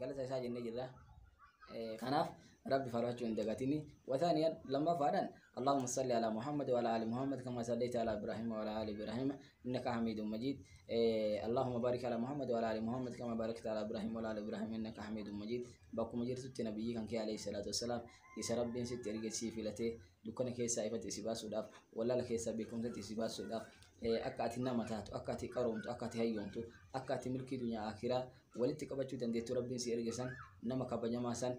galata isaa jennee jirra. Kanaaf rabbi farfachuu hin dagatini. Wataaniyan lammaffaadhaan Allahumma salli ala Muhammad wa ala ali Muhammad kama sallaita ala Ibrahim wa ala ali Ibrahim innaka hamidun majid. Allahumma barik ala Muhammad wa ala ali Muhammad kama barakta ala Ibrahim wa ala ali Ibrahim innaka hamidun majid. Bakkuma jirtutti nabiyyii kan kee alayhi salaatu wassalaam isa rabbiin sitti erge sii filatee dukkana keessaa ifatti si baasuudhaaf, wallaala keessaa beekumsatti si baasuudhaaf, akka ati nama taatu, akka ati qaroomtu, akka ati hayyoomtu, akka ati milkii dunyaa akiraa walitti qabachuu dandeettu rabbiin si erge san nama kabajamaa san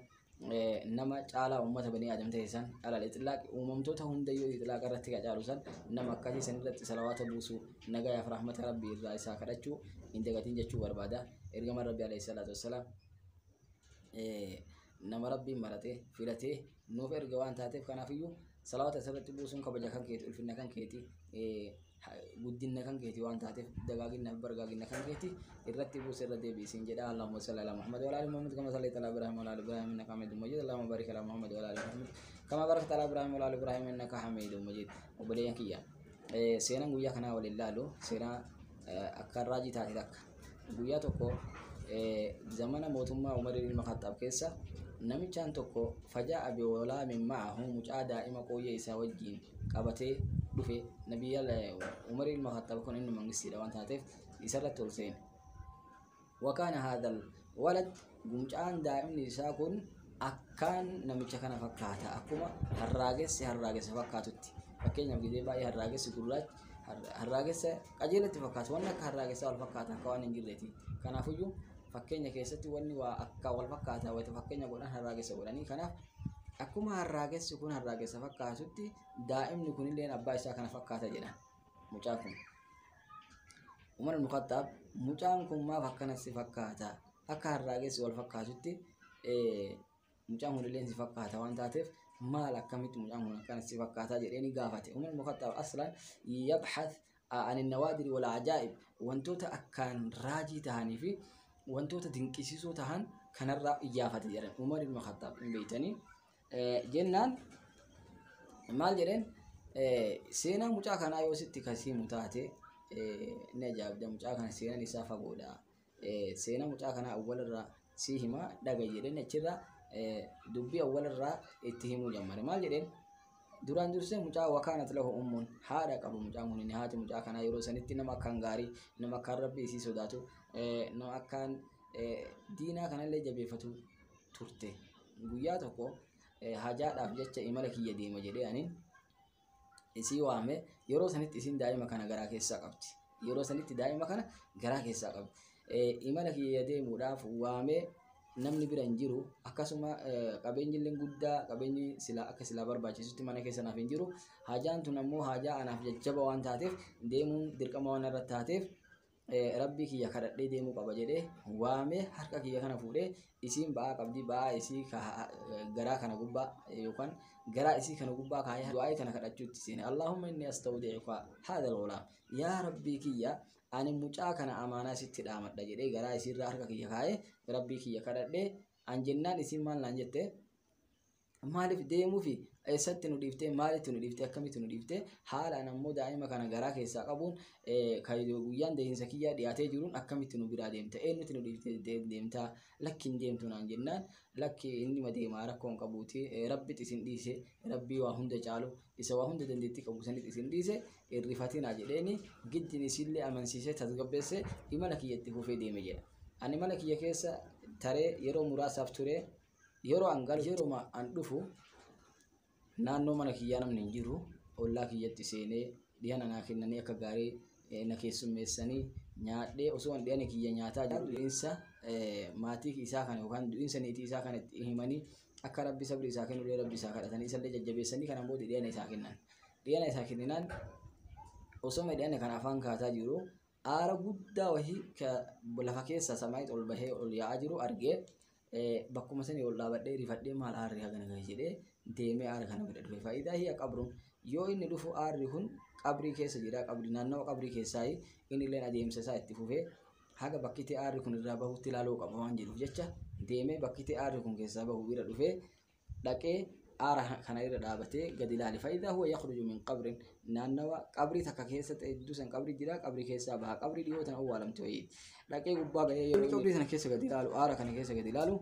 nama caalaa uummata banii aadam ta'e san alal ixlaaq uumamtoota hundayyuu ixlaaq irratti ka caalu san nama akkasii san irratti salawaata buusuu nagayaaf rahmata rabbii irraa isaa kadhachuu hin dagatiin jechuu barbaada ergaman rabbii alayhi salaatu wassalaam nama rabbiin maratee filatee nuuf erga waan taateef kanaafiyyuu salawaata isarratti buusuun kabaja kan keeti ulfinna kan keeti guddinna kan keeti waan taateef dagaaginna bargaaginna kan keeti irratti buusa irra deebi'i siin jedha Allahumma salli ala Muhammad wa ala ali Muhammad kama sallaita ala Ibrahim wa ala ali Ibrahim innaka Hamidum Majid Allahumma barik ala Muhammad wa ala ali Muhammad kama barakta ala Ibrahim wa ala ali Ibrahim innaka Hamidum Majid obboleeyyan kiyya Eh, Seenaan guyyaa kanaa waliin laalu seenaa eh, akkaan raajii taate takka. Guyyaa tokko eh, zamana mootummaa Umar ilma Khaxxaab keessa namichaan tokko fajaa abi walaamin ma'ahu mucaa daa'ima qooyyee isaa wajjiin qabatee dhufe nabiyyaal Umar ilma Khaxxaab kun inni mangistiidha waan taateef isarratti ol seene. Wakaana haadhal walad gumcaan daa'imni isaa kun akkaan namicha kana fakkaata akkuma harraagessi harraagessa fakkaatutti fakkeenyaaf gidee baay'ee harraagessi gurraachi harraagessa qajeelatti fakkaatu wanni akka harraagessaa wal fakkaata akka waan hin jirreeti kanaafuyyuu fakkeenya keessatti wanni waa akka wal fakkaata wayita fakkeenya godhan harraagessa godhanii kanaaf akkuma harraagessi kun harraagessa fakkaatutti daa'imni kunillee abbaa isaa kana fakkaata jedhan. mucaa kun umar ibn khattaab mucaan kun maaf akkana si fakkaata akka harraagessi wal fakkaatutti mucaan kun illee si fakkaata waan taateef maal akkamitti mucaan kun akkana si fakkaata jedheeni gaafate umar ibn khattaab aslan yabhath ani nawaadiri wal ajaa'ib wantoota akkaan raajii tahanii fi wantoota dinqisiisoo tahan kanarraa iyyaafate jedhan umar ibn khattaab hin beeytanii jennaan maal jedheen seenaa mucaa kanaa yoo sitti kan siimu taate ni ajaa'ibda mucaa kana seenaan isaa fagoodha seenaa mucaa kanaa awwalarraa sii himaa dhaga jedheen achirraa dubbii awwalarraa itti himuu jammare maal jedheen duraan dursee mucaa wakaanat lahu ummuun haadha qabu mucaan kun inni haati mucaa kanaa yeroo sanitti nama akkaan gaarii nama akkaan rabbii isii sodaatu nama akkaan diinaa kanallee jabeeffatu turte. Guyyaa tokko hajaadhaaf jecha imala kiyya deema jedhee anin isii waame yeroo sanitti isin daa'ima kana garaa keessaa qabdi. Yeroo sanitti daa'ima kana garaa keessaa qabdi. Imala kiyya deemuudhaaf waamee namni bira hin jiru akkasuma qabeenyi illee guddaa qabeenyi silaa akka silaa barbaachisutti mana keessa naaf hin jiru. Hajaan tun ammoo hajaa anaaf jajjaba waan taateef deemuun dirqama waan irratti taateef Rabbii kiyya kadhadhee deemuu qaba jedhee waamee harka kiyya kana fuudhee isiin ba'aa qabdii ba'aa isii garaa kana gubbaa yookaan garaa isii kana gubbaa kaayee du'aa'ii kana kadhachuutti seene Allaahumma inni astawdi'uka haadha lolaam yaa rabbii kiyya ani mucaa kana amaanaa sitti dhaamadha jedhee garaa isiirraa harka kiyya kaayee rabbii kiyya kadhadhee an jennaan isiin maal naan jette maaliif deemuu fi eessatti nu dhiiftee maalitti nu dhiiftee akkamitti nu dhiiftee haalaan ammoo daa'ima kana garaa keessaa qabuun eh, kan guyyaan deehinsa kiyyaa dhiyaatee jiruun akkamitti nu biraa deemta eenyutti nu dhiiftee de- deemta lakki hin deemtu naan jennaan lakki inni ma deemaa rakkoo hin qabuuti eh, rabbitti isin dhiise rabbii waa hunda caalu isa waa hunda dandeettii qabu sanitti isin dhiise irrifatinaa jedheeni giddin isillee amansiisee tasgabbeessee imala kiyyatti fufee deeme jedha ani mana kiyya keessa taree yeroo muraasaaf ture Yeroo an galu yeruma an dhufu naannoo mana kiyyaa namni hin jiru. Ollaa kiyyatti seenee dhihana naa kennanii akka gaarii eh, na keessummeessanii nyaadhee osoo an dhihana kiyya nyaataa jiru du'insa eh, maatii isaa kana yookaan du'insa niitii isaa kana itti himanii akka rabbi sabri isaa kennulee rabbi isaa kadhatanii isallee jajjabeessanii kanaan booda dhihana isaa kennan. Dhihana isaa kenninaan osoo midhaan kan afaan kaataa jiru aara guddaa wahii ka lafa keessa samaayit ol bahee ol yaa'aa jiru argee bakkuma sanii ol dhaabadhee rifadhee maal aarri hagana gahe jedhee deemee aara kana bira dhufe faayidaa hiya qabruun yoo inni dhufu aarri kun qabrii keessa jira qabri naannawa qabrii keessaa inni illee adeemsa isaa itti fufee haga bakkitti aarri kun irraa bahutti ilaaluu qaba waan jedhuuf jecha deemee bakkitti aarri kun keessaa bahu bira dhufee dhaqee aara kana irra dhaabatee gadi ilaale fa'idaa huwa yakhruju min qabrin naannawa qabrii takka keessa ta'e jidduu san qabrii jira qabrii keessaa baha qabrii dhiyoo tan awwaalamte wayii dhaqee gubbaa ga'ee yeroo inni qabrii sana keessa gadi ilaalu aara kana keessa gadi ilaalu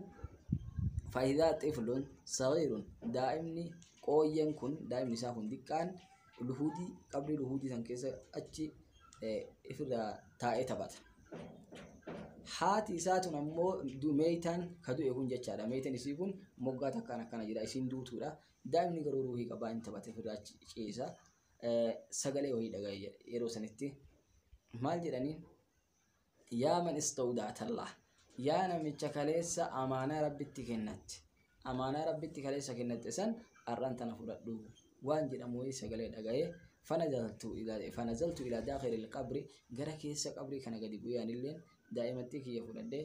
fa'idaa xiflun sagiirun daa'imni qooyyeen kun daa'imni isaa kun diqqaan luhuudii qabrii luhuudii san keessa achi ifirraa taa'ee taphata. Haati isaa tun ammoo meeytaan ka du'e kun jechaadha. Meeytaan isii kun moggaa takkaan akkana jira isiin duutuudha. Daa'imni garuu ruuhii qabaa hin taphate ofirraa achi ciisa. Sagalee wayii dhagaye yeroo sanitti maal jedhanii? yaa man istawda'atallah yaa namicha kaleessa amaanaa rabbitti kennatte amaanaa rabbitti kaleessa kennatte san har'an tana fudhadhu waan jedhamu wayii sagalee dhagaye fanazaltu ila fanazaltu ila daakhiril qabri gara keessa qabrii kana gadi bu'ee anilleen daa'imattii kiyya fudhadhee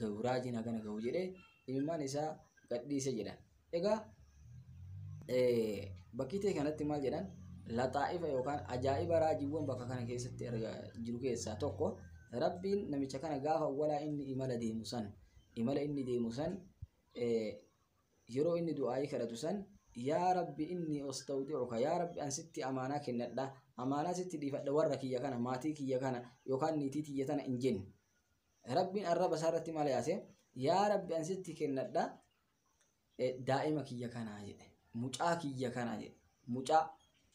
gahu raajiin hagana gahu jedhee ilmaan isaa gadhiise jedhan. Egaa bakkii ta'e kanatti maal jedhan laxaa'ifa yookaan ajaa'iba raajiiwwan bakka kana keessatti erga jiru keessaa tokko rabbiin namicha kana gaafa walaa inni imala deemu san imala inni deemu san yeroo inni du'aa'ii kadhatu san yaa rabbi inni ostawdi'uka yaa rabbi an sitti amaanaa kennadha amaanaa sitti dhiifadha warra kiyya kana maatii kiyya kana yookaan niitii tiyya tana hin jenne Rabbiin arraba isaa irratti maal yaase? Yaa Rabbi an sitti kennadha eh, daa'ima kiyya kanaa jedhe. Mucaa kiyya kana jedhe. Mucaa.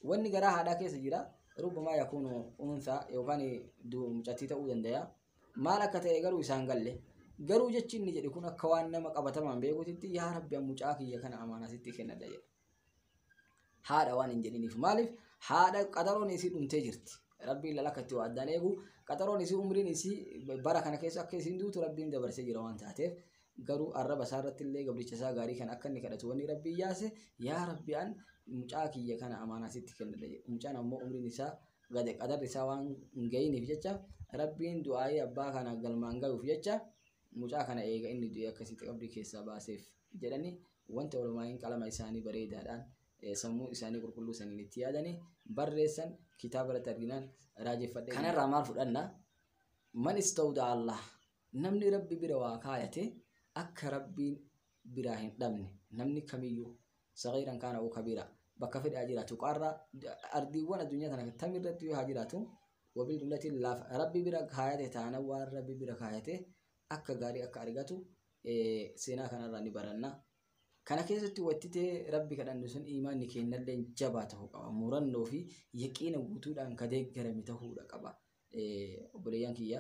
Wanni garaa haadhaa keessa jira. Rubbamaa yakuunu unsaa yookaan du- mucattii ta'uu danda'a. Maal akka ta'e garuu isaan galle. Garuu jechi inni jedhe kun akka waan nama qabatamaan beekutitti yaa Rabbi an mucaa kiyya kana amaanaa sitti kennadha jedhe. haadha waan hin jedhiniif maaliif haadha qaxaroon isii dhumtee jirti rabbiin lala akka itti waa addaan eegu qaxaroon isii umriin isii bara kana keessa akka isiin duutu rabbiin dabarsee jira waan taateef garuu arraba isaa irratti illee gabricha isaa gaarii kan akka inni kadhatu wanni rabbii yaase yaa rabbi an mucaa kiyya kana amaanaa sitti kennadha jedhe mucaan ammoo umriin isaa gade qadarri isaa waan hin ga'iniif jecha rabbiin du'aa'ii abbaa kana galmaan ga'uuf jecha mucaa kana eega inni du'e akkasitti qabrii keessaa baaseef jedhanii wanta olomaa'iin qalama isaanii bareedaadhaan sammuu isaanii qulqulluu saniin itti yaadanii barreessan kitaaba irratti arginaan raajeffadhe. Kanarraa maal fudhanna? Man istawda Allah namni rabbi bira waa kaayate akka rabbiin biraa hin dhabne namni kamiyyuu sagiiran kaana uu kabiira bakka fedhe haa jiraatu qaarraa ardiiwwan addunyaa tana tam irratti yoo haa jiraatu wabii dullatiin laaf rabbi bira kaayate taana waan rabbi bira kaayate akka gaarii akka argatu seenaa kanarraa ni baranna. Kana keessatti wattitee rabbi kadhannu sun iimaanni keennallee jabaa ta'uu qaba. Murannoo fi yaqiina guutuudhaan ka deeggarame ta'uudha qaba. Obboleeyyan kiyya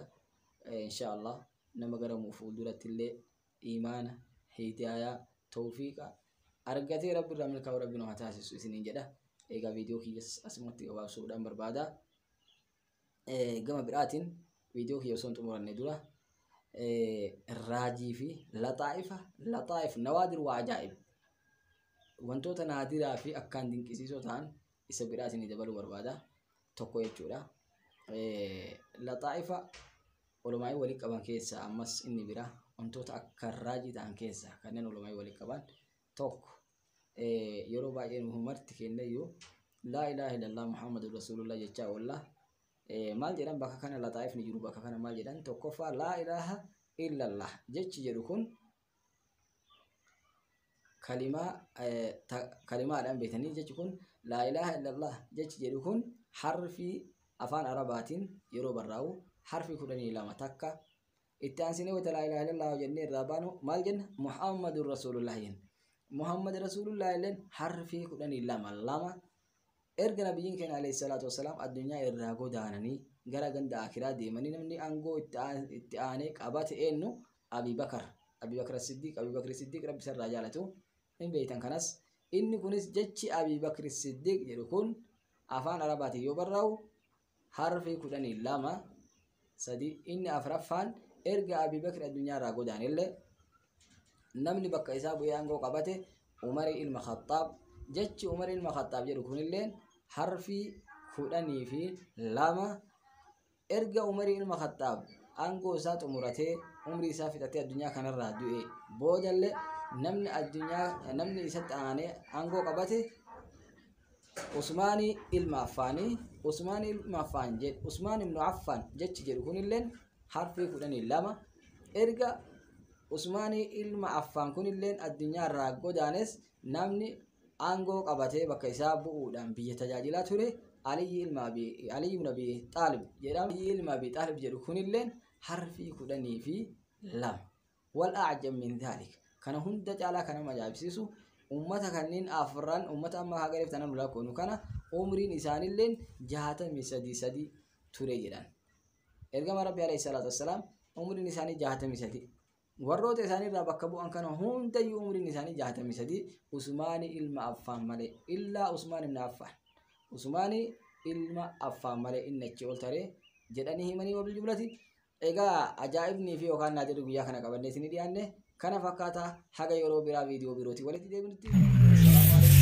insha Allah nama gara fuulduratti illee iimaana, hidaayaa, tawfiiqa argatee rabbi irraa milkaa'u rabbi nu haa taasisu isiniin jedha. Egaa viidiyoo kiyyas asumatti gabaabsuudhaan barbaada. Gama biraatiin viidiyoo kiyya osoo hin xumuranne dura raajii fi laxaa'ifa laxaa'if nawaadir waa ajaa'ib wantoota naadiraa fi akkaan dinqisiisoo ta'an isa biraatiin dabaluu barbaada tokko jechuudha. Laxaa'ifa olomaa'ii walii qaban keessaa ammas inni biraa wantoota akka raajii ta'an keessaa kanneen olomaa'ii walii qaban tokko yeroo baay'ee nu marti kennayyuu laa ilaaha illallah muhammadun rasuulullah jechaa oolla maal jedhan bakka kana laxaa'if ni jiru bakka kana maal jedhan tokkoffaa laa ilaaha illallah jechi jedhu kun kalimaa kalimaadhaan beekanii jechi kun laa ilaaha illallah jechi jedhu kun harfii afaan arabaatiin yeroo barraa'u harfii kudhanii lama takka itti aansinee wayta laa ilaaha illallah jennee irraa baanu maal jenna muhammadun rasuulullah jenna muhammad rasuulullah illeen harfii kudhanii lama lama erga nabiyyiin keenya alayhi salaatu wassalaam addunyaa irraa godaananii gara ganda akiraa deemanii namni aangoo itti aan- itti aanee qabate eenyu abii bakar abii bakar siddiiq abii bakri siddiiq rabbi isarraa jaalatu hin beeytan kanas inni kunis jechi abii bakri siddiiq jedhu kun afaan arabaatiin yoo barraa'u Harfi 12 sadii inni afraffaan erga Abii Bakr addunyaa irraa godaanellee namni bakka isaa bu'ee aangoo qabate Umar ilma Khaxxaab jechi Umar ilma Khaxxaab jedhu kunilleen harfi kudhanii fi lama erga Umar ilma Khaxxaab aangoo isaa xumuratee umrii isaa fixatee addunyaa kanarraa du'e boodallee namni addunyaa namni isatti aanee aangoo qabate Usmaanii ilma Affaanii, Usmaan ilma Affaan jedhe, Usmaan ibnu Affaan jechi jedhu kunilleen harfii kudhanii lama. Erga Usmaanii ilma Affaan kunilleen addunyaa irraa godaanes namni aangoo qabatee bakka isaa bu'uudhaan biyya tajaajilaa ture Aliyyi ilma Abi Aliyyi ibn Abi Xaalib jedhama. Aliyyi ilma Abi Xaalib jedhu kunilleen harfii kudhanii fi lama. Wal a'jab min dhaalik. Kana hunda caalaa kan nama ajaa'ibsiisu ummata kanneen afran ummata amma haa galeef tananu lakkoonu kana umriin isaanilleen jaatamii sadii sadii ture jedhan. Ergama Rabbi alayhi salaatu wassalaam umriin isaanii jaatamii sadii. Warroota isaanii irraa bakka bu'an kana hundayyuu umriin isaanii jaatamii sadii Usmaanii ilma Affaan malee illaa Usmaan ibn Affaan. Usmaanii ilma Affaan malee inni achi ol taree jedhanii himanii wabil jumlati Egaa ajaa'ibnii fi yookaan naa jedhu guyyaa kana qabannee isinii dhiyaanne kana fakkaata haga yeroo biraa viidiyoo birootiin walitti deebinutti. Salaamu alaikum.